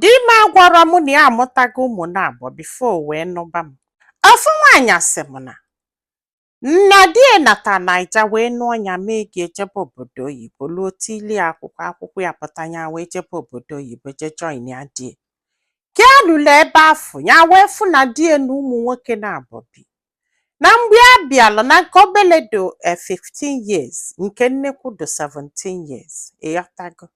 Di m agwarọ m na ya amụtago ụmụ naabọ before wee nụba m. Ofu nwaanyị asị m na na di ya nata Naija wee nụọ ya mee gị ejebe obodo oyibo luo tiili ya akwụkwọ akwụkwọ apụta ya wee jebe obodo oyibo je joinia di ya. Ka ya lulu ebe afụ ya wee fụ na di ya na ụmụ nwoke naabọ bi. na mgbe a bịala na nke obele dị eh, 15 years nke nnekwu dị 17 years ịghọtago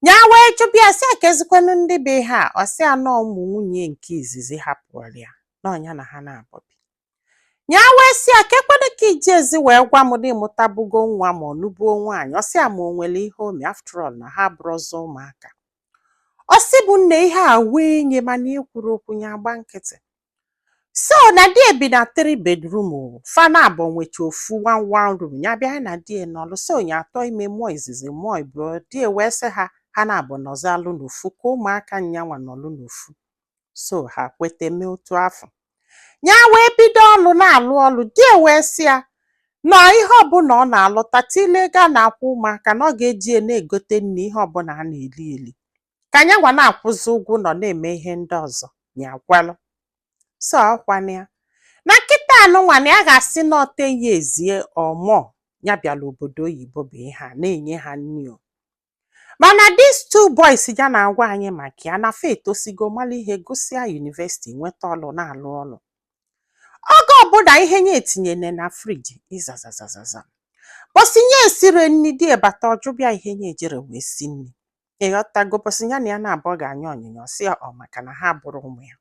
ya wee jụba ya sị a kezikwanụ ndị bụ ihe a ọ sị a na ọ ụmụ nwunye nke izizi hapụrụ ya na ọ nya na ha naabọ bi ya wee sị a kekwanụ ka i jirọzi wee gwa m na ịmụtabugo nwa ma ọ nụbuo nwaanyị ọ sị a ma o nwere ihe o me after all na ha abụrọzị ụmụaka ọ sị mụ nne ihe a ewue nya mana ekwurọ okwu ya agba nkịtị so na di ya bi na three bedroom o fa naabọ nwecha ofu one one room ya bịa ya na di ya nọlụ so nya atụọ ime mụọ izizi mụọ ibụọ di ya wee sị ha ha naabọ nọzialụ n'ofu ka ụmụaka nyanwa nọlụ n'ofu so ha kweta mee otu afụ ya wee bido ọlụ na-alụ ọlụ di ya wee sị ya na ihe ọbụla ọ na-alụta tile ego a na-akwụ ụmụaka na ọ ga-eji ya na-egote nri ihe ọbụla a na-eli eli ka nyanwa na-akwụzi ụgwọ ụlọ na-eme ihe ndị ọzọ ya ekwelụ so ọkwana ya na kịtaa nụnwa na ya ga-asị na ọte ya ezie ọmọ ya bịala obodo oyibo bụ ihe a na-enye ha nri o mana these two boys ya na-agwa anyị maka ya na fa etosigo mara ihe gụsịa university nweta ọlụ na-alụ ọlụ oge ọbụla ihe nya etinyere na fridge ịzazazazaza bọsị nya esirọ nri di ya abata ọ jụba ya ihe nya ejirọ wee sie nri ịghọtago bọsị ya na ya naabọ ga-anya onyinye ọ sị ya ọ maka na ha abụrọ ụmụ ya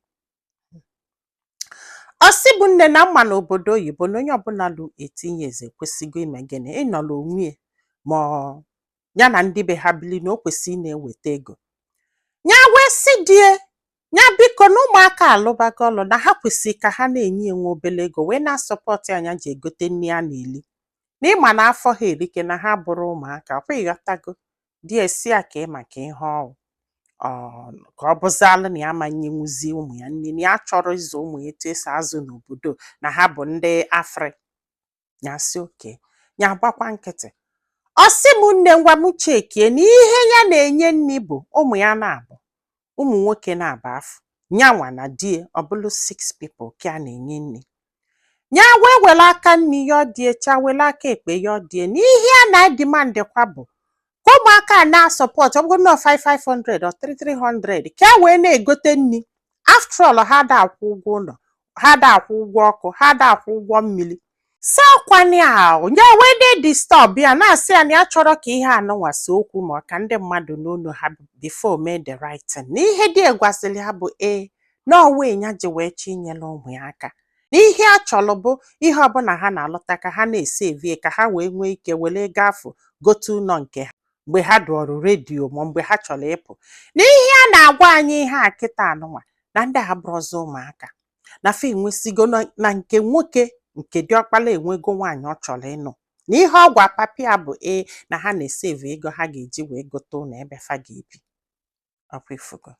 ọ sị mụ nne na m ma n'obodo oyibo na onye ọbụla lulu 18 years kwesịgo ime gịnị ịnọrọ onwe ya ma ọ- ya na ndị be ha bili na o kwesịrị ị na-eweta ego ya wee sị die ya biko na ụmụaka alụbago ọlụ na ha kwesịrị ka ha na-enye ya nwa obele ego wee na-asọpọtụ a nya ji egote nri a na-eli na ịma na afọ ha erika na ha abụrọ ụmụaka ọ ịghọtago di ya asị ya kee maka ihe ọ wụ ka ọ bụzịalụ na ya ama nyenwuzi ụmụ ya nri na ya chọrọ ịzụ ụmụ ya etu esi azụ n'obodo na ha bụ ndị afrị ya sị okay ya agbakwa nkịtị ọ sị m nne ngwa m chekie na ihe ya na-enye nri bụ ụmụ ya naabọ ụmụ nwoke naabọ afụ nyanwa na die ọ bụlụ six people ka a na-enye nri ya wee were aka nri ya ọdie cha were aka ekpe ya ọdie na ihe a na-edimandịkwa bụ ka ụmụaka a na-asọpọt ọ bụgonụ 5 500 or 3 300 ka e wee na-egote nri after all ha ada akwụ ụgwọ ụlọ ha da akwụ ụgwọ ọkụ ha da akwụ ụgwọ mmiri so ọkwa nya ahụ nya wee dị disturb ya na-asị ya na ya achọrọ ka ihe anụnwa see okwu ma ka ndị mmadụ nụ onu ha before mee the right thing na ihe di ya gwasịrị ha bụ ee na ọ why nya ji wee chọ inyere ụmụ ya aka na ihe ya chọrọ bụ ihe ọbụla ha na-alụta ka ha na-esevie ka ha wee nwee ike were ego afọ gote ụlọ nke ha mgbe ha dụọrụ ready ma mgbe ha chọrọ ịpụ na ihe ya na-agwa anyị ihe a kịta anụnwa na ndị a abụrọzi ụmụaka na fa enwesigo na- na nke nwoke nke diọkpala enwego nwaanyị ọ chọrọ ịnụ na ihe ọ gwa papa ya bụ ee na ha na-esevu ego ha ga-eji wee gote ụlọ ebe fa ga-ebi ọkwa ifugo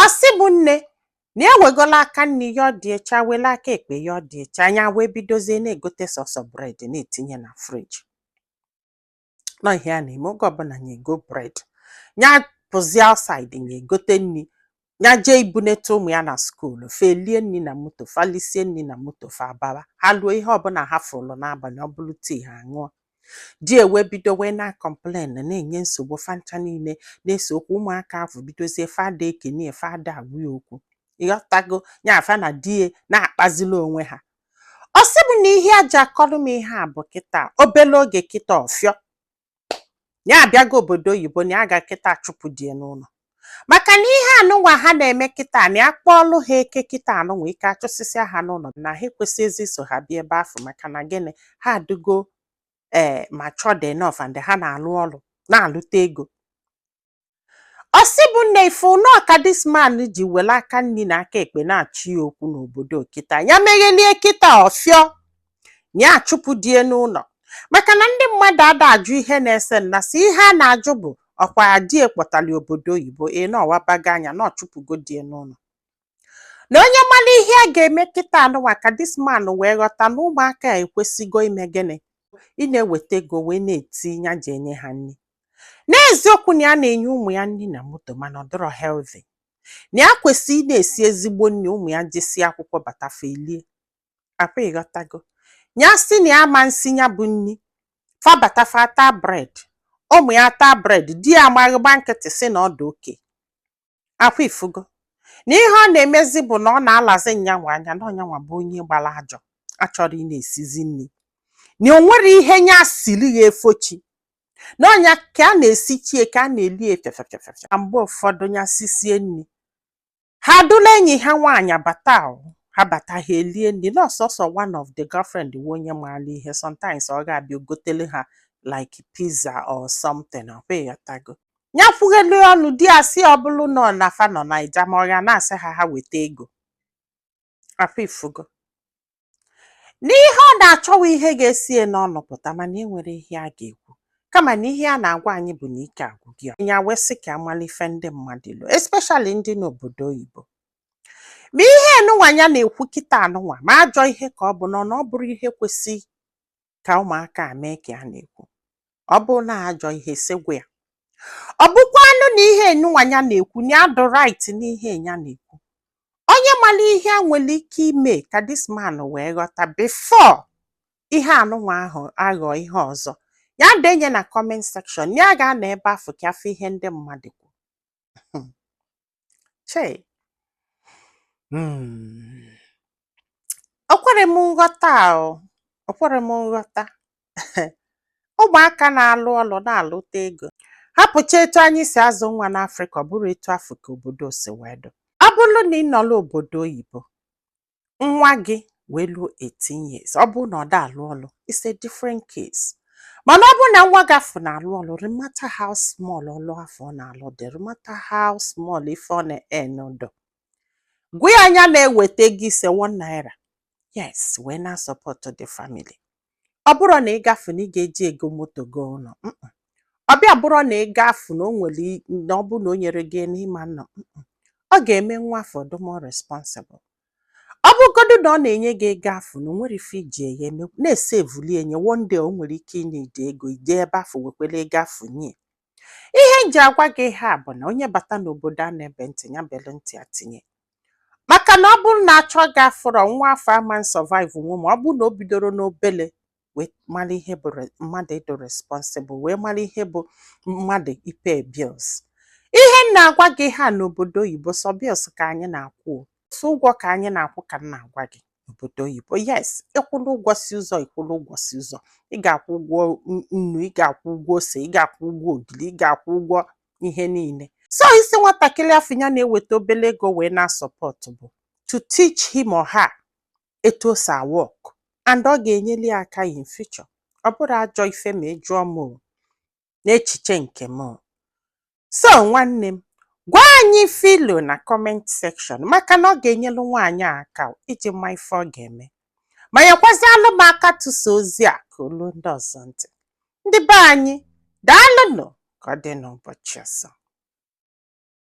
ọ sị bụ nne na ewegola aka nni ya ọ dị echa wele aka ekpe ya ọ dị echa nya wee bidozie na-egote sọsọ bread na-etinye na friji na ọ ihe ya na-eme oge ọbụla nya egoo bread ya pụzie outside nya egote nri ya jee ibunete ụmụ ya na skuulu fa elie nri na moto fa lisie nri na moto fa abawa ha luo ihe ọbụla ha fụlụ n'abalị ọ bụrụ tea ha ṅụọ di ya wee bido wee na-complain na-enye nsogbu fa ncha niile na-ese okwu ụmụaka ahụ bidozie fa ada ekenie fa ada agwa ya okwu ịghọtago ya fa na di ya na-akpazili onwe ha ọ sị m na ihe ya ji akọrọ m ihe a bụ kịta obele oge kịta ọ fịọ na ya abịago obodo oyibo na ya ga kịta chụpụ di ya n'ụlọ maka na ihe anụnwa ha na-eme kịta na ya kpọọlụ ha eke kịta anụnwa eke achụsịsịa ha n'ụlọ na ha ekwesịghịzi iso ha bie ebe afọ maka na gịnị ha adịgo ee matured enough and ha na-alụ ọrụ na-alụta ego ọ sị bụ nne ị fụ nọọ ka this man ji were aka nri na aka ekpe na-achọ ya okwu n'obodo kịta ya meghelie kịta ọ fịọ na ya achụpụ die n'ụlọ maka na ndị mmadụ ada ajụ ihe na-ese na isi ihe a na-ajụ bụ ọkwa die kpọtara obodo oyibo ee na ọ wabago anya na ọ chụpụgo die n'ụlọ na onye mara ihe a ga-eme kịta anụwa ka this man wee ghọta na ụmụaka a ekwesịgo ime gịnị ị na-eweta ego wee na-etinye eji enye ha nri n'eziokwu na ya na-enye ụmụ ya nri na moto mana ọ dịrọ healthy na ya kwesịrị ị na-esi ezigbo nri ụmụ ya jesie akwụkwọ bata fa elie ọkwa ịghọtago ya sị na ya ama nsi ya bụ nri fa bata fa ataa bread ụmụ ya taa bread di ya amaghị ịgba nkịtị sị na ọ dị okay ọkwa ifugo na ihe ọ na-emezi bụ na ọ na-alazi nyanwa anya na ọ nyanwa bụ onye gbara ajọ achọrọ ị na-esizi nri na o nwerọ ihe nya siri ya efo chi na ọ nya ka a na-esichie ka a na-eli efefefefefe na mgbe ụfọdụ ya sisie nri ha dula enyi ha nwaanyị bata ha bata ha elie nri na ọ sọsọ one of the girlfriend wu onye maara ihe sometimes ọ ga-abịa gotere ha like pizza or something ọkwa ịghọtago ya kwughelu ọnụ di ya sị ọ bụrụ na ọ na fa nọ naija ma ọ ya na-asị ha ha weta ego afụ ifugo n'ihe ọ na-achọwa ihe ga-esie n'ọnụ pụta mana e nwere ihe a ga-ekwu kama na ihe a na-agwa anyị bụ na ike agwụ gị ya wee sị ka a malụ ife ndị mmadụ lo especially ndị n'obodo oyibo ma ihe enụnwa ya na-ekwu kịta anụnwa ma ajọ ihe ka ọ bụ nọ na ọ bụrụ ihe kwesị ka ụmụaka a mee ka ya na-ekwu ọ bụ na ajọ ihe sị gwa ya ọ bụkwanụ na ihe enụnwa ya na-ekwu na ya dụ right n'ihe ya na-ekwu onye mara ihe a nwere ike ime ka this man wee ghọta before ihe anụnwa ahụ aghọọ ihe ọzọ ya denye na comment section ya ga-anọ ebe afụ ka a fụ ihe ndị mmadụ kwuru chei hmm. o kwere m nghọta o o kwere m nghọta ụmụaka na-alụ ọlụ na-alụta ego hapụcha etu anyị si azụ nwa n'afrịka ọ bụrọ etu afụ ka obodo si wee dụ ọ bụrụ na ị nọla obodo oyibo nwa gị wee luo 18 years ọ bụrụ na ọ da alụ ọlụ it's a different case mana ọ bụrụ na nwa gị afụ na-alụ ọlụ no matter how small ọlụ afụ ọ na-alụ dị no matter how small ife ọ na-earn dụ gwa ya nya na-eweta gị ise one naira yes wee na-asupport the family ọ bụrọ na ego afụ na ị ga-eji e go moto go ụlọ ọ bịa bụrọ na ego afụ na o nwere na ọ bụ na o nyerọ gị na ị ma nọ ọ ga-eme nwa afụ dị more responsible ọ bụgodu na ọ na-enye gị ego afụ na o nwerọ ife i ji ya eme na-esaveli nya one day o nwere ike ịneed ego i je ebe afụ wekwere ego afụ nye ihe m ji agwa gị ihe a bụ na onye bata n'obodo a na-ebe ntị ya belu ntị a tinye maka na ọ bụrụ na a chọọ gị a fụrọ nwa afụ ama survive nwu ma ọ bụrụ na o bidorọ n'obele wee mara ihe bụ re- mmadụ ịdụ responsible wee mara ihe bụ mmadụ ịpay bills ihe m na-agwa gị ihe a n'obodo oyibo sọ bills ka anyị na-akwụ o. sọ ụgwọ ka anyị na-akwụ ka m na-agwa gị n'obodo oyibo yes ịkwụla ụgwọ si ụzọ ịkwụla ụgwọ si ụzọ ị ga-akwụ ụgwọ nnu ị ga-akwụ ụgwọ ose ị ga-akwụ ụgwọ ogiri ị ga-akwụ ụgwọ ihe niile so ịsị nwatakịrị afụ ya na-eweta obele ego wee na-asupport bụ to teach him or her etu o si awork and ọ ga-enyeli ya aka in future ọ bụrọ ajọ ife ma ị jụọ m n'echiche nke m So nwanne m, gwa anyị ife i lo na comment section maka na ọ ga-enyelu nwaanyị a aka iji ma ife ọ ga-eme. Ma nyekwazialụ m aka tụsa ozi a ka o lu ndị ọzọ ntị. Ndị be anyị, daalụnụ ka ọ dị n'ụbọchị ọzọ.